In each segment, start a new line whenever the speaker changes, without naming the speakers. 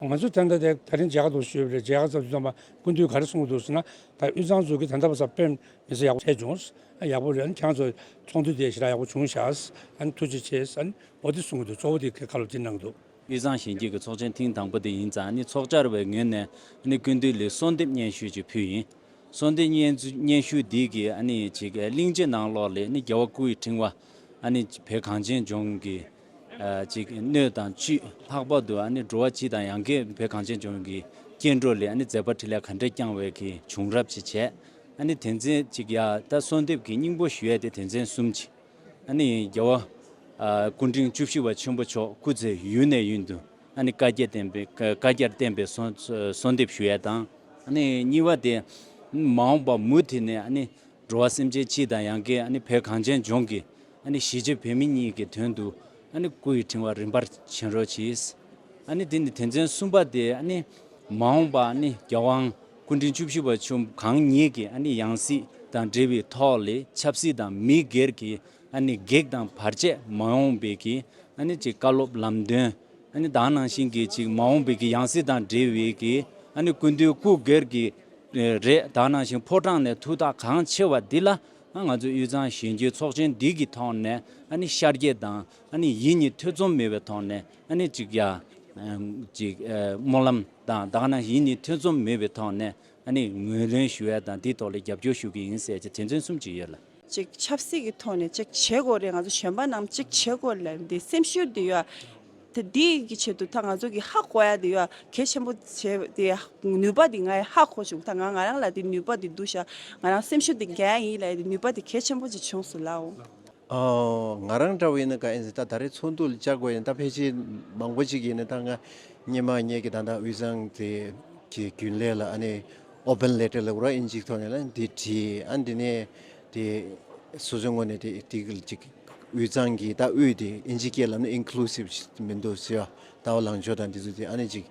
ང་ཚོས་ཐེངས་འདི་ད་རིང་ཇའི་ཁ་ཐོག་ཤོད་པའི་ཇའི་ཁ་ཚབ་རྩོམ་པ་ཀུན་འདུས་ག་རེ་གསུངས་འདུག་ཟེར་ན། ད་དབུས་གཙང་ཚོ་གི་ད་ལྟ་བ་སར་དཔེར་མི་ཚེ་ཡག་པོ་འཕྲད་བྱུང། ཡག་པོ་རེད་ཁྱང་ཚོ་ཚོགས་འདུ་དེ་ཞེ་དྲག་ཡག་པོ་བྱུང་བཞག་ཐུགས་རྗེ་ཆེ། འོ་དེ་གསུངས་འདུག་གཙོ་བོ་དེ་ཁ་ལོ་དེ་ནང་འདུག། དབུས་གཙང་གཞིན་སྐྱེས་ཀྱི་ཚོགས་ཆེན་ཐེངས་དང་པོ་དེ་ཡིན་ཙང་ནི་ཚོགས་བཅར་བའི་ངོས་ནས་ནི་ཀུན་འདུས་ལི་གསོལ་འདེབས་སྙན་ཞུ་ཅིག་ཕུལ་ཡིན། གསོལ་འདེབས་སྙན་ཞུ་འདི་
གི་ནི་ཅིག་གླིང་རྗེ་ནང་ལོག་ལས་ནི་རྒྱལ་བ་སྐུ་ཡི་ཕྲེང་བ། བེ་གངས་ཅན་ལྗོངས་ཀྱི། གཅིག། སྣོད་དང་བཅུད། ལྷག་པར་དུ་ཨ་ནི་འགྲོ་བ་སྤྱི་དང་ཡང་སྐད་བོད་གངས་ཅན་ལྗོངས་ཀྱི་སྐྱེ་འགྲོ་ལས་ཨ་ནི་མཛད་པ་ཁྲི་ལས་ག་འདྲས་བསྐྱངས་བས་གི་བྱུང་རབས་ཅི་བྱས། ཨ་ནི་དེ་མཚན་གཅིག་ཡ་ད་གསོལ་འདེབས་ཀྱི་སྙིང་པོ་ཞུས་ཏེ་དེ་མཚན་གསུམ་གཅིག། ཨ་ནི་རྒྱལ་བ། སྐུ་འཕྲེང་བཅུ་བཞི་བ་ཆེན་པོ་མཆོག་སྐུ་ཚེ་ཡུན་ནས་ཡུན་དུ་ཨ་ནི་བཀའ་རྒྱ་བསྟན་པའི་བཀའ་རྒྱར་བརྟེན་པའི་གསོལ་འདེབས་ཞུ་ཡས་དང། ཨ་ནི་གཉིས་བ་དེ། མ་འོངས་པ་མུ་མཐུད་ནས་ཨ་ནི་འགྲོ་བ་སེམས་ཅན་སྤྱི་དང་ཡང་སྐད་ཨ་ནི་བོད་གངས་ཅན་ལྗོངས་ཀྱི། ཨ་ནི་གཞིས་བྱེས་བོད་མི་གཉིས་ཀྱི་དོན་དུ་ཨ་ནི་སྐུ་ཡི་ཕྲེང་བ་རིམ་པར་བྱིན་རོགས་གྱིས། ཨ་ནི་དེ་ནི་དེ་མཚོན་གསུམ་པ་སྟེ་ཨ་ནི། མ་འོངས་པ་ཨ་ནི་རྒྱལ་དབང་སྐུ་ཕྲེང་བཅུ་བཞི་པ་ཆོས་གང་ཉིད་ཀྱི་ཨ་ནི་ཡང་སྲིད་དང་འབྲེལ་བའི་ཐོག་ལས་ཆབ་སྲིད་དང་མི་སྒེར་གྱི་ཨ་ནི་གེགས་དང་བར་ཆད་མ་ཡོང་བའི་གྱི་ཨ་ནི་ཅེས་བཀའ་སློབ་ལམ་སྟོན་ཨ་ནི་དག་གནང་བཞིན་གྱི་ཅིག་མ་འོངས་པའི་གྱི་ཡང་སྲིད་དང་འབྲེལ་བའི་གྱི་ཨ་ནི་ཀུན་འདུས་སྐུ་སྒེར་གྱི་རེ་དག་གནང་བཞིན་ཕོ་བྲང་ནས་ཐུགས་ཐག་གང་ཆེ་བ་འདི་ལ་ང་ཚོས་དབུས་གཙང་གཞོན་སྐྱེས་ཚོགས་ཆེན་འདི་གི་ཐོག་ནས་ཨ་ནི་ཤར་རྒྱལ་དང་ཨ་ནི་ཡིད་གཉིས་ཐེ་ཚོམ་མེད་པའི་ཐོག་ནས་ཨ་ནི་གཅིག་རྒྱ། གཅིག། སྨོན་ལམ་དང་ད་ག་ན་ཡིད་གཉིས་ཐེ་ཚོམ་མེད་པའི་ཐོག་ནས་ཨ་ནི་ངོས་ལེན་ཞུ་ཡ་དང་དེའི་ཐོག་ལ་རྒྱབ་སྐྱོར་ཞུ་གི་ཡིན་ཟེར་ཅེས་དྲན་མཚོན་གསུམ་བྱས་ཡོད་ལ། གཅིག་ཆབ་སྲིད་
ཀྱི་ཐོག་ནས་གཅིག་བྱེད་དགོས་རེད་ང་ཚོ་གཞོན་པ་རྣམས་གཅིག་བྱེད་དགོས་ལ་འདི་སེམས་ཤུགས་འདི་ཡོད། དེ་དེ་གི་ཆེད་དུ་ད་ང་ཚོ་གི་ཧ་གོ་ཡ་དེ་ཡོད་གལ་ཆེན་པོ་བྱེད་དེ་ནུས་པ་དེ་ང་ཡི་ཧ་གོ་བྱུང་ད་ང་ང་རང་ལ་དེ་ནུས་པ་དེ་འདུག་ཤག་ང་རང་སེམས་ཤུགས་དེ་འགན་ཡིན་ལ་ཡི་ནུས་པ་དེ་གལ་ཆེན་པོ་ཅིག་བྱུང་སོང་ལ།
ང་རང་འདྲ་བ་ཡིན་ན་ག་ཡིན་ཟེར་ད་ད་རེས་ཚོགས་འདུ་ལ་བཅར་དགོས་ཡིན་ད་ཕལ་ཆེར་མང་པོ་ཅིག་ཡིན་ན་ད་ང་སྙེ་མ་སྙེ་གི་ད་ད་དབུས་གཙང་དེ་གི་རྒྱུན་ལས་ལ་ཨ་ནི Open Letter ལ་ར་ཨིན་ཅིག་ཐོག་ནས་ལ་འདི་བྲིས་ཨ་འདི་ནས་དེ་སོ་སོའི་ངོས་ནས་དེ་དེ་གི་གཅིག་དབུས་གཙང་གི་ད་དབུས་དེ་ཨིན་ཇིའི་སྐད་ལ་ནི Inclusive ཞིག་མི་འདུག་ཟེར་བ་ལྟ་བུ་ལངས་ཕྱོགས་དང་དེ་ཚོ་དེ་ཨ་ནི་གཅིག་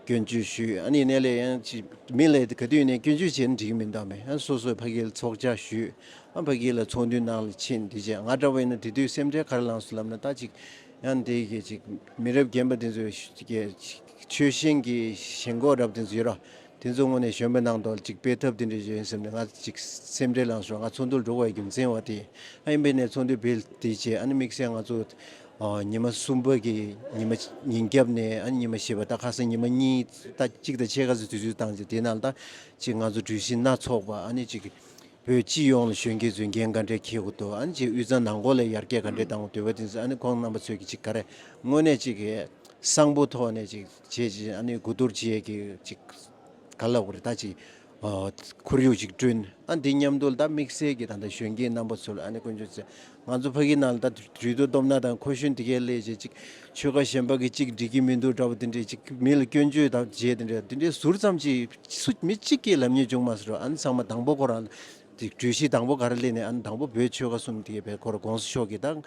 སྐྱོན་བརྗོད་ཞུས་ཨ་ནི་གནས་ལས་ཡང་གཅིག་མི་ལས་དེ་ག་དུས་ནས་སྐྱོན་བརྗོད་བྱས་ན་འགྲིག་གི་མི་འདུག་མེད་ཨ་སོ་སོའི་ཕ་གིའི་ཚོགས་བཅར་ཞུས་ཨ་ཕ་གི་ལ་ཚོགས་འདུའི་ནང་ལ་ཕྱིན་དེ་རྗེས་ང་འདྲ་བས་ན་དེ་དུས་སེམས་ཁྲལ་ག་རེ་ལངས་སོང་ལབ་ན་ད་གཅིག་ཡང་དེ་གི་གཅིག་མི་རབས་རྒན་པ་དེ་ཚོའི་གི་ཆོལ་ཞེན་གི་ཞེན་ཁོག་རབ་དེ་ཚོ་ཡོད་ར་དེ་ཚོ་དངོས་ནས་གཞོན་པའི་ནང་དོག་ཅིག་སྤེལ་ཐབས་དེ་འདྲས་བྱོས་ཡིན་སེམས་ནས་ང་ཅིག་སེམས་ཁྲལ་ལངས་བྱུང་ང་ཚོགས་འདུར་འགྲོ་བའི་རྒྱུ་མཚན་བ་དེ་ཨ་ཡིན་པས་ནས་ཚོགས་འདུའི་བེད་དེ་བྱས་ཨ་ནི་དམིགས་བསལ་ང་ཚོ་ཉི་མ་གསུམ་པ་གི་ཉི་མ་ཉིན་རྒྱབ་ནས་ཨ་ནི་ཉི་མ་ཞེས་པ་ད་ཁ་སང་ཉི་མ་གཉིས་ད་གཅིག་དང་ཕྱེད་ཀ་ཚོ་དུས་ཚོད་བཏང་རྗེས་དེ་ནང་ད་ཅིག་ང་ཚོ་གྲོས་གཞི་སྣ་ཚོགས་པ་ཨ་ནི་ཅིག་བོད་སྤྱི་ཡོངས་ལ་གཞོན་སྐྱེས་ཚོས་འགན་ག་འདྲས་འཁྱེར་དགོས་དོ་ཨ་ནི་ཅིག་དབུས་གཙང་ནང་སྐོར་ལ་ཡར་རྒྱས་ག་འདྲས་གཏང་དགོས་དོད་པ་དེ་ཚོ་ཨ་ནི་ཁོང་རྣམ་པ་ཚོས་ཀྱི་ཅིག་ག་རེ་དངོས་ནས་ཅིག་གསང་པོ་ཐོག་ནས་ཅིག། བྱས་རྗེས་ཨ་ནེ་དགུ་གཏོར་རྗེས་ཀྱི་གཅིག་ག་ལ་བར་ད་ཅིག་ཁོར་ཡུག་ཅིག་བསྐྲུན་ཨ་འདི་སྙམ་དུ་ད་དམིགས་བསལ་གྱི་ད་ལྟ་གཞོན་སྐྱེས་རྣམ་པ་ཚོལ་ཨ་ནེ་དཀོན་མཆོག་ཚེ་ང་ཚོ་ཕ་གི་ནང་ལ་ད་དུས་དུ་སྡོམ་ན་དང་ཁོ་གཞོན་དེ་གའི་ལས་བྱེད་ཅིག་ཆོལ་ཁ་གཞན་པ་གི་ཅིག་འགྲིག་གི་མི་འདུག་འདྲ་བོ་དེ་འདྲས་ཅིག་མི་ལ་སྐྱོན་བརྗོད་དང་བརྗེད་དེ་འདྲས་དེ་འདྲས་ཟུར་ཙམ་ཅིག་སུ་མི་གཅིག་གིས་ལབ་ཉེས་བྱུང་མ་སོང་ཨ་ནེ་ཚང་མ་དང་པོ་ཁོ་རང་གྲོས་གཞི་དང་པོ་ག་རེ་སླེབས་ནས་ཨ་ནེ་དང་པོ་བོད་ཆོལ་ཁ་གསུམ་དེ་གའི་བེ་ཁོ་ར་དགོངས་སུ་ཤོག་གི་ད་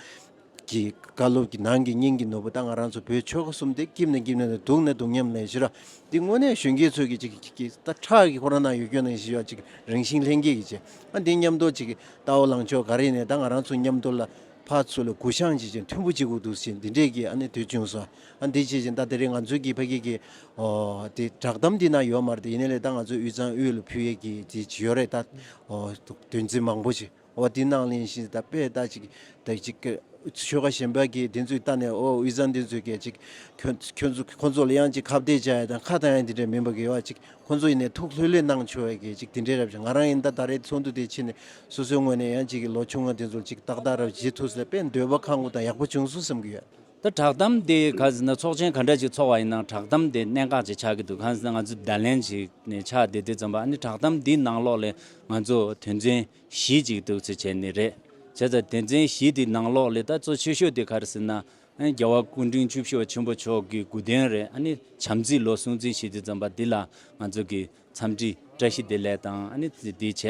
གྱི་བཀའ་སློབ་ཀྱི་ནང་གི་སྙིང་གི་ནོར་བུ་ད་ང་རང་ཚོ་བོད་ཆོལ་ཁ་གསུམ་དེ་སྐྱིབས་ནས་སྐྱིབས་ནས་དང་དུག་ནས་དུག་མཉམ་ལེན་བྱེད་ར་འདི་དངོས་གནས་གཞོན་སྐྱེས་ཚོས་ཀྱི་ཅིག་གི་ད་ཁྲག་གི་ཁོ་རང་ནང་ཡོད་སྐྱོན་ནང་ཞི་བ་ཅིག་རང་བཞིན་ལྷན་སྐྱེས་ཀྱི་བྱེད་ཨ་འདི་མཉམ་དུ་ཅིག་གི་ད་འོ་ལང་ཕྱོགས་ག་རེ་ནས་ད་ང་རང་ཚོ་མཉམ་དུ་ལ་ཕ་ཚུ་ལ་གུ་བཤང་བྱེད་ཅིག་མཐུན་པོ་ཅིག་གུ་དུག་བྱེད་འདི་འདྲས་ཀྱི་ཨ་ནི་དུས་ཅུང་ཟ་ཨ་འདི་བྱེད་ཅིག་ད་དེ་རིང་ང་ཚོའི་ཀྱི་ཕ་སྐད་ཀྱི་ཨོ་དེ་བསྒྲགས་གཏམ་འདི་ནང་ཡོད་མ་རེད་ཡིན་ན་ལེ་ད་ང་ཚོའི་དབུས་གཙང་དབུས་ལ་ཕུལ་ཡས་ཀྱི་ཅིག་ཡོད་རེད་ད་ཨོ་དོན་ཚིག་མང་པོ་ཅིག། ཨོ་དེ་ནང་ལན་ཞིག་ད་པས་ད་ཅིག་དེ་ཅིག་གི། ཆོལ་ཁ་གཞན་པ་གིས་དེ་ཚོའི་ལྟ་ནས་ཨོ་དབུས་གཙང་དེ་ཚོས་སྐད་ཅིག། ཁྱོད་ཁྱོད་ཚོ་ཁོ་ཚོ་ལ་ཡང་ཅིག་ཁ་བརྡས་བྱ་ཡ་དང་ཁ་ད་ཡང་དེ་འདྲ་མིན་པ་དགེ་བ་ཅིག་ཁོ་ཚོ་ཡིན་ནས་ཐུགས་ལྷོད་ལྷོད་གནང་ཆོག་ཡ་གི་ཅིག་དེ་འདྲས་རབ་བྱུང་ང་རང་ཡིན་ད་ད་རེས་ཚོགས་འདུ་དེ་ཕྱི་ནས་སོ་སོའི་ངོས་ནས་ཡང་ཅིག་གི་ལོ་ཆུང་ང་དེ་ཚོ་ལ་ཅིག་ཏག་ཏག་རབ་བྱེད་ཐུགས་ཟེར་པས་འདོད་པ་ཁ་ངོ་ད་ཡག་པོ་བྱུང་སོང་བསམ་གི་ཡོད། ད་བསྒྲགས་གཏམ་
དེ་ག་ཟེ་ན་ཚོགས་ཆེན་ག་འདྲ་ཅིག་འཚོགས་བ་ཡིན་ན་བསྒྲགས་གཏམ་དེ་གནད་འགག་ཅིག་ཆགས་ཀྱི་འདུག་གང་ཟེ་ན་ང་ཚོ་བརྡ་ལན་ཞིག་ནས་ཆགས་བསྡད་དེ་བརྩམས་པ་ཨ་ནི་བསྒྲགས་གཏམ་འདིའི་ནང་ལོགས་ལས་ང་ཚོ་དོན་ཚན་བཞི་ཅིག་འདུག་ཚེ་བྱས་ནི་རེད། བྱས་ཙང་དོན་ཚན་བཞི་དེའི་ནང་ལོགས་ལས་ད་གཙོ་ཆེ་ཤོས་དེ་ག་རེ་ཟེ་ན་ཨ་ནི་རྒྱལ་བ་སྐུ་འཕྲེང་བཅུ་བཞི་བ་ཆེན་པོ་མཆོག་གི་དགུ་དོན་རེད་ཨ་ནི་བྱམས་བརྩེའི་ལོ་སྲུང་བརྩི་ཞེས་དེ་བརྩམས་པ་འདི་ལ་ང་ཚོ་གི་འཚམས་འདྲི་བཀྲ་ཤིས་བདེ་ལེགས་དང་ཨ་ནི་འདི་བྱས་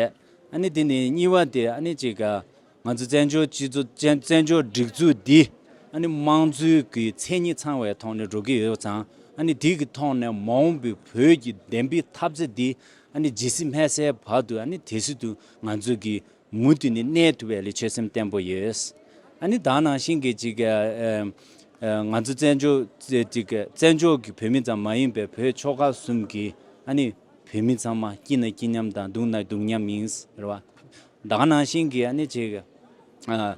ཨ་ནི་དེ་ནས་གཉིས་བ་དེ་ཨ་ནི་ཅིག་ག་ང་ཚོའི་བཙན་བྱོལ་སྤྱི་ཚོགས་བཙན་བྱོལ་སྒྲིག་འཛུགས་འདི་ཨ་ནི་དམངས་གཙོའི་གི་མཚན་ཉིད་ཚང་བའི་ཐོག་ནས་འགྲོ་གི་ཡོད་ཙང་ཨ་ནི་དེ་གི་ཐོག་ནས་མ་འོངས་པའི་བོད་ཀྱི་བདེན་པའི་འཐབ་རྩོད་འདི་ཨ་ནི་ཇི་སྲིད་སྨད་སའི་བར་དུ་ཨ་ནི་དེ་སྲིད་དུ་ང་ཚོ་གི་མུ་མཐུད་ནས་གནས་ཐུབ་པའི་ལི་ཆོད་སེམས་བརྟན་པོ་ཡོད། ཨ་ནི་དག་ནང་བཞིན་གི་ཅིག་ང་ཚོ་བཙན་བྱོལ་ཅིག་བཙན་བྱོལ་གི་བོད་མི་ཙམ་མ་ཡིན་པའི་བོད་ཕྱོགས་ཁག་གསུམ་གི་ཨ་ནི་བོད་མི་ཚང་མ་སྐྱིད་ན་སྐྱིད་མཉམ་དང་སྡུག་ན་སྡུག་མཉམ་ཡིན། རེད་བ། ཟླ་ག་ནང་བཞིན་གྱི་ནི་བྱེད།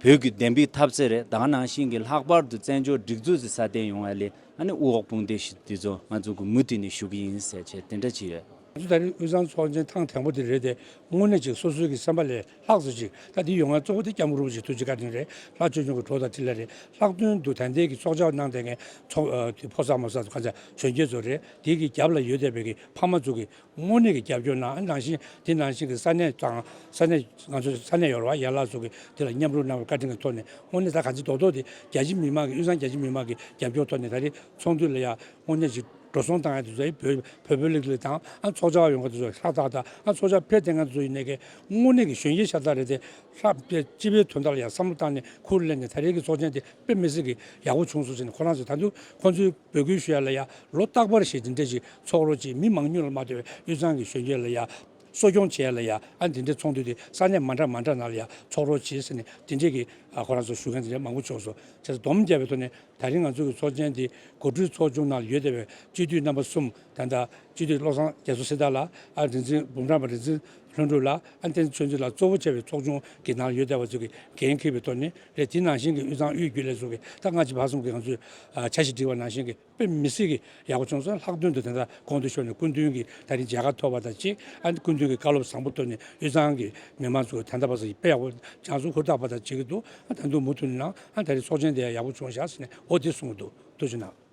བོད་ཀྱི་བདེན་པའི་ཐབས་རྩལ་རེད་ཟླ་ག་ནང་བཞིན་གྱི་ལྷག་པར་དུ་བཙན་བྱོལ་སྒྲིག་འཛུགས་སུ་སྲ་བརྟན་ཡོང་བ་ལས་ཨ་ནི་དབུ་འོག་དཔུང་འདེགས་ཞིག་འདི་ཚོ་ང་ཚོ་གུས་མོ་དེ་ནས་ཞུ་གི་ཡིན་ཟེར་བྱས་དེ་འདྲ་ཅིག་རེད། ང་ཚོ་ད་རིང་དབུས་གཙང་
ཚོགས་ཆེན་ཐང་དེང་པོ་དེ་རེད་དེ་དངོས་གནས་ཅིག་སོ་སོའི་གི་སེམས་པ་ལས་ལྷག་ཟེར་ཅིག་ད་དེ་ཡོང་ང་གཙོ་བོ་དེ་སྐྱབས་མགོན་རིན་པོ་ཆེ་ཐུགས་རྗེ་བཀའ་དྲིན་རེད་ལྷག་ཆོས་འབྱུང་གི་གྲོགས་དང་ཁྲི་ལ་རེད་ལྷག་དོན་དུ་དན་ཏའི་གི་ཚོགས་བཅར་གནང་བསྡད་མཁན་ཚོགས་ཕོ་གསར་མོ་གསར་ཚོ་ག་ཚད་བྱོན་རྒྱལ་ཚོ་རེད་དེ་གི་རྒྱབ་ལ་ཡོད་བསྡད་པའི་གི་ཕ་མ་ཚོ་གི་དངོས་གནས་ཀྱི་རྒྱབ་སྐྱོར་ནང་ནང་བཞིན་དེ་ནང་བཞིན་གྱི་ས་གནས་དང་ས་གནས་ང་ཚོའི་ས་གནས་ཡོ་རོབ་བ་ཡན་ལག་སོགས་ཀྱིས་དེ་ལ་མཉམ་རུབ་གནང་བའི་བཀའ་དྲིན་གྱི་ཐོག་ནས་དངོས་གནས་ད་ག་ཚེ་རྡོག་རྡོག་དེ་རྒྱལ་སྤྱི་མི་མང་གི་དབུས་གཙང་རྒྱལ་སྤྱི་མི་མང་གི་རྒྱབ་སྐྱོར་ཐོག་ནས་ད་རེས་ཚོགས་འདུ་ལ་ཡང་དངོས་གནས་ཞིག་འགྲོ་སོང་དང་ཡང་དེ་ཚོ་བོད་བོད་བོད་ལིག་ལིག་དང་ཨང་ཚོགས་ཆ་བ་ཡོང་ག་དེ་ཚོ་ཧྲག་ཐག་ཐག་ཨང་ཚོགས་ཆ་ཕེབས་ཐེངས་ང་ཚོ་ཡིན་ནས་ཀྱི་དངོས་གནས་ཀྱི་གཞོན་སྐྱེས་ཤ་སྟག་རེད་དེ་ལྷག་པའི་སྤྱི་པའི་དོན་དག་ལ་ཡང་བསམ་བློ་བཏང་ནས་ཁུར་གླེང་ནས་ད་རེས་ཀྱི་ཚོགས་ཆེན་དེ་དཔེ་མི་སྲིད་ཀྱི་ཡག་པོ་བྱུང་སོང་ཟེར་ནས་ཁོ་རང་ཚོས་ད་དུང་ཁོང་ཚོའི། འབོད་སྐུལ་ཞུ་ཡ་ལ་ཡང་ལོ་རྟག་པར་བཞེས་ཏེ་འདྲེ་ཅིག་ཚོགས་རོ་ཅིག་མི་མང་སྙུན་ལ་མ་བསྟོད་པའི་དབུས་གཙང་གི་གཞོན་སྐྱེས་ལ་ཡང་གསོ་སྐྱོང་བྱས་ལ་ཡང་དེ་འདྲའི་ཚོགས་འདུ་དེ་ས་གནས་མ་འདྲ་མ་འདྲ་ན་ལ་ཡང་ཚོགས་རོགས་བྱེད་ཟེར་ནས་དེ་འདྲས་ཀྱི་ཁོ་རང་ཚོ་ཞུ་མཁན་དེ་འདྲས་མང་པོ་བྱུང་སོང་བྱས་ཚེ་བསྡོམས་བརྒྱབ་པའི་ཐོག་ནས་ད་རིང་ང་ཚོ་གི་ཚོགས་ཆེན་དེ་གོ་སྒྲུས་ཚོགས་ཆུང་ནང་ལ་ཡོད་བསྡད་པའི་སྤྱི་འཐུས་རྣམ་པ་གསུམ་ད་ལྟ་སྤྱི་འཐུས་བློ་བཟང་རྒྱ་མཚོ་སྲི་ད་ལ་ཨ་རིན་ཆེན་འབུམ་རམས་པ་རིན་ཆེན་ལྷུན་གྲུབ་ལ་ཨ་བསྟན་ཚུལ་འདི་ལ་གཙོ་བོ་བྱས་པའི་ཚོགས་ཆུང་གི་ནང་ཡོད་བསྡད་པ་ཚོ་གི་འགན་འཁུར་བའི་ཐོག་ནས་རེད་དེ་ནང་བཞིན་གི་དབུས་གཙང་དབུས་རྒྱུད་ལས་ཚོ་གི་ད་སྔ་ཕྱི་བར་གསུམ་གི་ང་ཚོས་བྱ་ཞིག་བསྒྲིགས་པ་ནང་བཞིན་གི་དཔེ་མི་སྲིད་གི་ཡག་པོ་བྱུང་སོང་ལྷག་དོན་དུ་དེ་འདྲ་གོང་དུ་ཤོར་ནས་སྐུ་མདུན་གི་ད་རིང་མཇལ་ཁ་ཐོབ་པ་དང་གཅིག་ཨ་ཀུན་མདུན་གི་བཀའ་སློབ་བཟང་པོ་ཐོབ་ནས་དབུས་གཙང་གི་མི་མང་ཚོ་གི་ད་ལྟ་བར་སོ་ཡི་དཔེ་ཡག་པོ་སྦྱངས་སོང་ཧུར་ཐག་པ་དང་བྱེད་ཀྱི་འདུག་ཨ་ད་དུང་མུ་མཐུད་ནང་ཨ་ད་རིང་ཚོགས་ཆེན་དེ་ཡག་པོ་བྱུང་བཞག་ཟེར་ནས་འོ་དེ་གསུངས་འདུག་ཏུ་ཆུ་ནང།